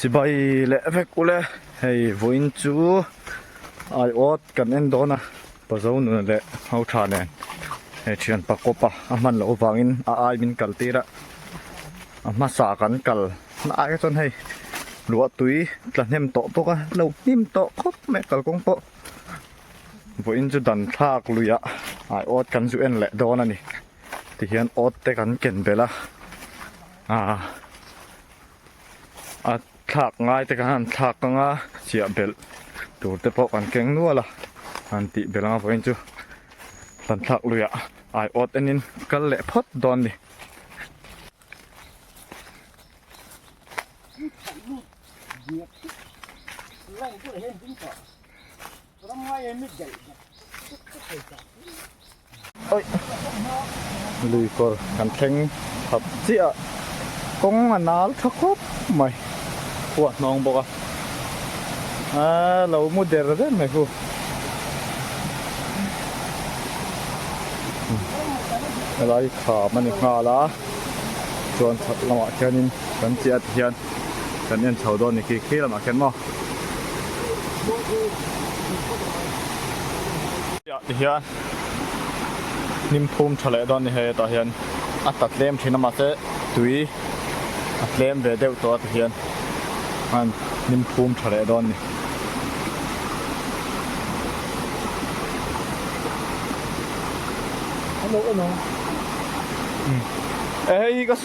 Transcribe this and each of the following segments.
Sibai leh vek ule hei vawiin chu aiawt kan en dawn a, Pazo nuna leh Hauṭha nen he ṭhianpa kawpa a hman loh avangin a ai min kal tir a, a hmasa kan kal hnai chuan hei luah tui tlahnem tawh bawk a, lo hnim tawh khawp mai kal kawng pawh vawiin chu danthlak luiah aiawt kan zu en leh dawn a ni tihian awt te kan ken belh a. a thlak ngai te khan thlak ka nga chiah belh tur te pawh kan keng nual a han tih belh anga vawiin chu kan thlak lui ah ai awt enin kal leh phawt dawn ni Lui kawr kan thleng thap chiah a, kawng a nal tha khawp mai, hu a hnawng bawk a, a lo mu der ber mai hu, helai kham a ni nghal a, chuan chhak lamah khianin kan chiah a ti hian kan en chho dawn ni khi khi lamah kher maw? Tih ti hian hnim phum tha leh dawn ni hei hetah hian a ta tlem thin a mahse tui a tlem ve deuh tawh a ti hian an hnim phum tha leh dawn ni. Hello, hello. Umm. Ehei ka.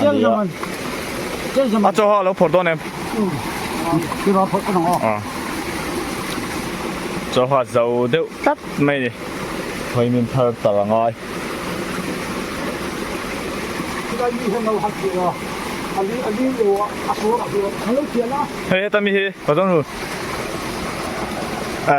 a ni a. A chaw ho a lo phawrh dawn em? A. Chaw ho a zau deuh tlat mai ni. Hawi min phar tar angai. Hei heta mi hi paw dawn hun. A.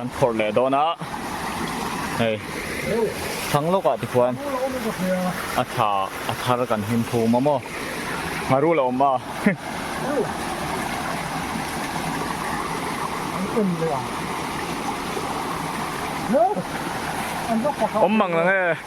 An phawrh leh dawn a, hei thlang lawkah te khuan a tha a thar kan him thu mawm aw, ngaru la awm a. Awm mang la nge.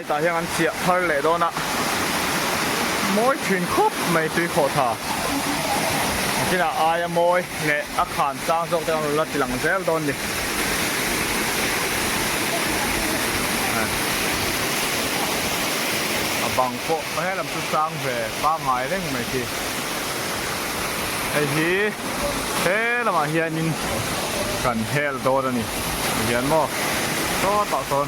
Hetah hian an chiah phar leh dawn a, mawi thin khawp mai tui khawh tha a kinah aia mawi leh a khan sang zawk te an rawn la ti lang zel dawn ni. A bang pawh a helam chu sang ve pangngai reng mai khi. Hei hi he lamah hianin kan hel dawn a ni, a tihian maw? Sawtah sawn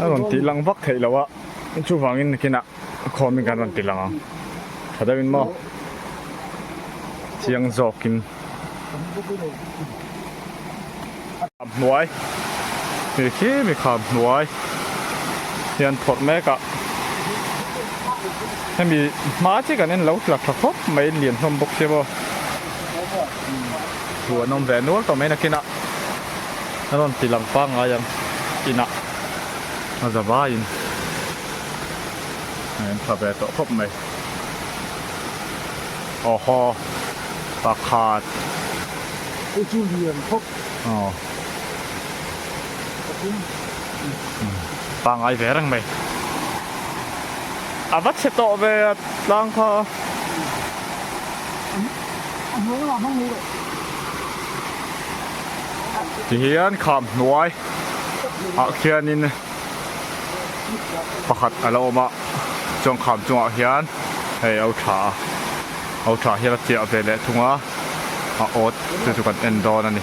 A rawn tih lang vak theih loh a, chuvangin nakinah khawmin kan rawn ti lang ang tha deuhin maw? Chiang zawkin a hnuai mi khi mi kha hnuai hian phawrh mek a, hemi hma chi kan en lo tla tha khawp mai lian hlawm bawk si maw? Thu an awm ve nual tawh mai nakinah a rawn ti lang pangngai ang inah a za vaiin a en tha ve tawh khawp mai. Oho, pakhat. Kei chu lian khawp. Aw. Pathum. Pangai ve reng mai. A va chhe tawh ve a tlang kha. Tihian kham hnuai ah khianin pakhat a lo awm a, chuan kham chungah hian hei a uṭha a, a uṭha hian a chiah ve leh thung a, a awt te chu kan en dawn a ni.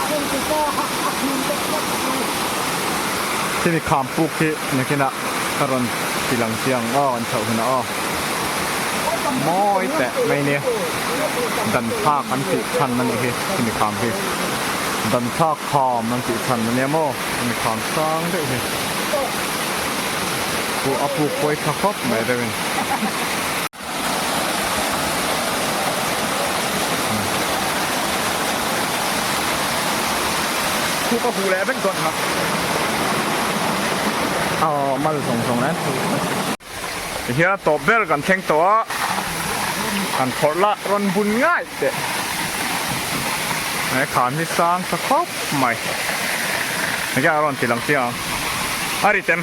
a en ti ta a a khim ta tlat a ni. Chumi kham puk hi nakin ah ka rawn ti lang chiang aw an chhoh hun a aw mawi teh mai nia dan thlak an tih chhan a nih hi chumi kham hi dan thlak kham an tih chhan a nia maw chumi kham sang deuh hi pu a puk pawi tha khawp mai reuhin. Khu ka huh leh vek dawn hna. Aw mal zawng zawng an thu a. Tihian tawp ber kan thleng tawh a, kan phawrh la rawn bun ngaih teh. He khan hi sang tha khawp mai. Engtiang a rawn ti lang chiang ang. A ri tem.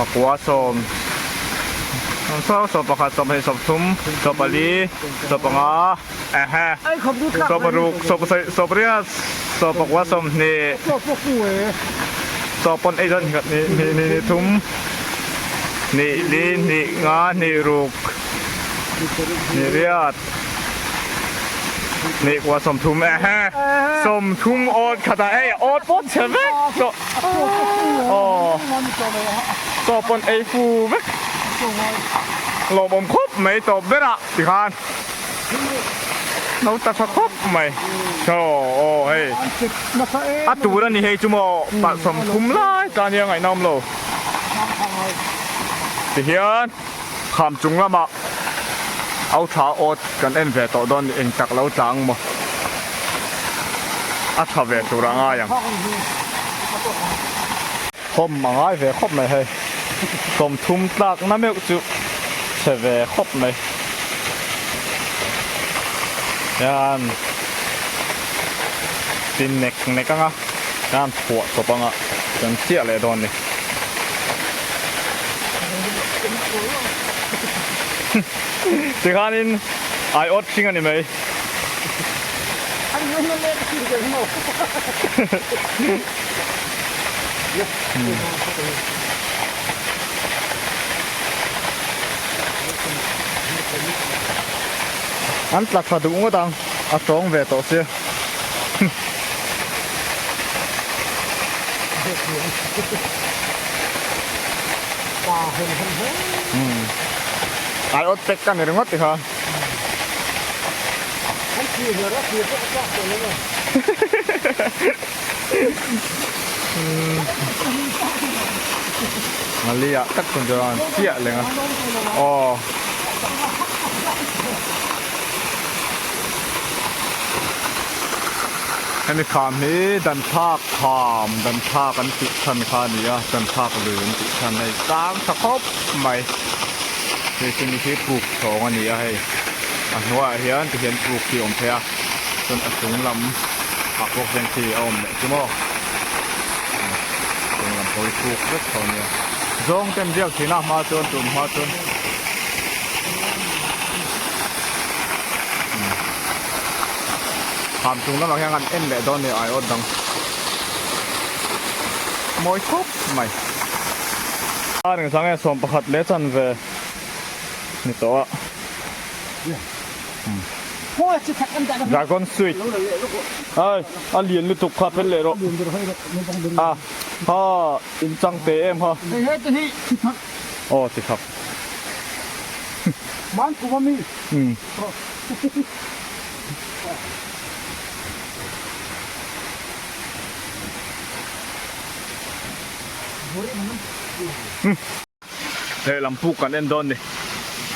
pakua sawm, sawm sawm, sawm pakhat, sawm pahnih, sawm thum, sawm pali, sawm panga, ehe, sawm paruk, sawm pasarih, sawm pariat, sawm pakua, sawm hnih, sawm pawn eizawn hnih khat, hnih hnih hnih thum, hnih li, hnih nga, hnih ruk, hnih riat, hnih kua, sawm thum, ehe, sawm thum awt khat a, ei awt pawh chhe vek tawh. Tawp pawn ei fu vek lawmawm khawp mai tawp berah ti khan no ta tha khawp mai thaw aw hei a tur a ni hei chu maw palhsawm khum lai ta nia ngaih nawm lo ti hian. Kham chung lamah Authla awt kan en ve tawh dawn ni, engtak lo tlang maw a tha ve tur a ngai ang. Khawm a ngai ve khawp mai hei, hlawm thum tlak na meuh chu chhe ve khawp mai. Hian tin nek nek anga. Hian phuah tawp anga kan chiah leh dawn ni. Tikhanin ai awt hring a ni mai. An tla tha duh ngawt ang. a tawng ve tawh se. Ai ot pek ka ni ringawt ti kha. Malia tak chhun chuan chiah lenga. Aw. Hemi kham hi Danthlak kham, Danthlak an tih chhan kha a ni a, Danthlak lui an tih chhan hei tlang tha khawp mai. Hei chu ni hi puk thawng a ni a hei, a hnuaiah hian ti hian puk hi a awm phei a, chuan a chung lam ah pawh hian khi a awm leh chu maw. Chung lam pawh hi puk vek tho a ni a. Zawng ten biak thin a, hma chuan tum hma chuan. Kham chung lamah hian an en leh dawn ni ai awt dang. Mawi khawp mai. A ring thlang e sawm pakhat leh chan ve ni tawh a. Dragon sweet. Ai, a lian lutuk kha fel leh rawh. A, ha, in chang teh em ha. Hei he te hi thithak. Aw, thithak. Hei lam puk kan en dawn ni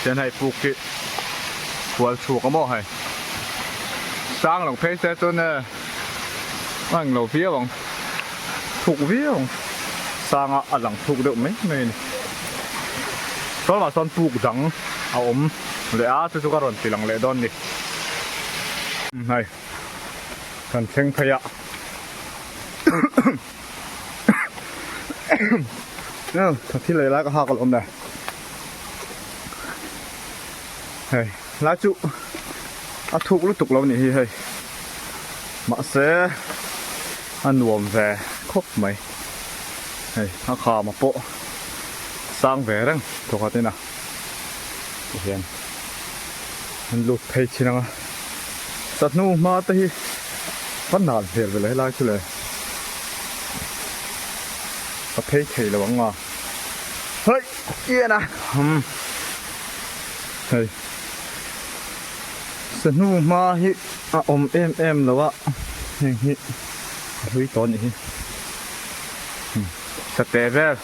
chuan hei puk hi hual chhuk a maw hei sang lo phei se chuan e. A englo viau ang, thuk viau ang, sanga a lang thuk deuh mai mai a ni. Chuan mah chuan puk dang a awm leh a, chu chu ka rawn ti lang leh dawn ni. Hei, kan thleng phei a. Thil lei lai ka hak alawm le. Hei. Hlai chu a thuk lutuk lo nih hi hei. Mahse a nuam ve khawp mai. Hei a khama pawh sang ve reng thawkhatin a ti hian an lut phei thin ang a. Sahnu hma te hi va nal hmel ve lo helai chu le. A phei thei lo ang a. Haih! Kian a. Umm. Hei. Sanu hma hi a awm em em lo a, heng hi a hlui tawh a nih hi. Sate vel,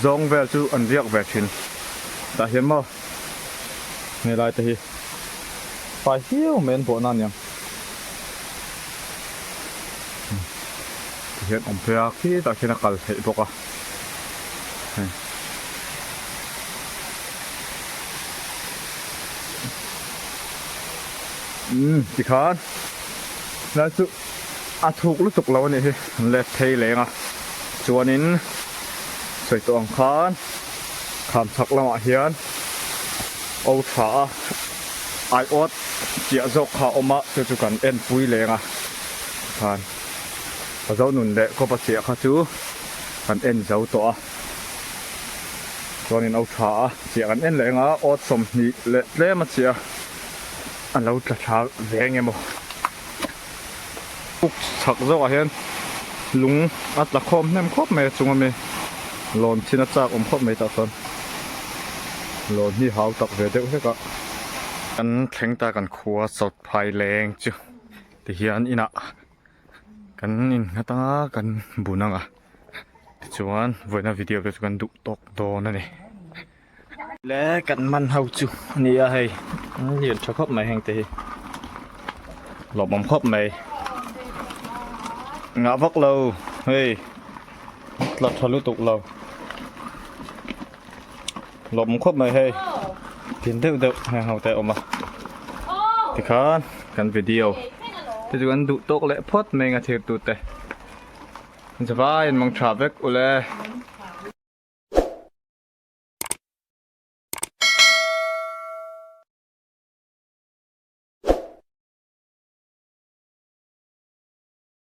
zawng vel chu an riak ve thin. Tah hian maw he lai te hi fai hiau mai an bawhna a niang. Tah hian awm phei a, khitah khian a kal theih bawk a. umm tikhan hnai chu a thuk lutuk lo a nih hi let phei leng a chuanin sawi tawh ang khan kham chak lamah hian o tha a aiawt chiah zawk kha a awm a chu chu kan en pui leng a tikhan. Ka zo nun leh kawpa chiah kha chu kan en zo tawh a, chuanin au tha a chiah kan en leh eng a, aw sawmhnih leh tlem a chiah a, a lo tla tha ve eng emaw. Uk chhak zawkah hian lung a tla khawm hnem khawp mai a, chunga mi lawn thin a chak awm khawp mai tah chuan lawn hi hau tak ve deuh hlek a. Kan thleng ta kan khua sawt phai leng chu tihian inah kan innghat a kan bun ang a tichuan vawiina video te chu kan duh tawk dawn a ni le kan man ho chu a ni a hei an lian tha khawp mai hengte hi lawmawm khawp mai ngah vak lo hei tla tha lutuk lo Lawm khawp mai hei. Tin deuh deuh heng ho te awm a. Tikhan kan video te chu kan duh tawk leh phawt mai anga thir tu te. Zavai an mawng tha vek ule.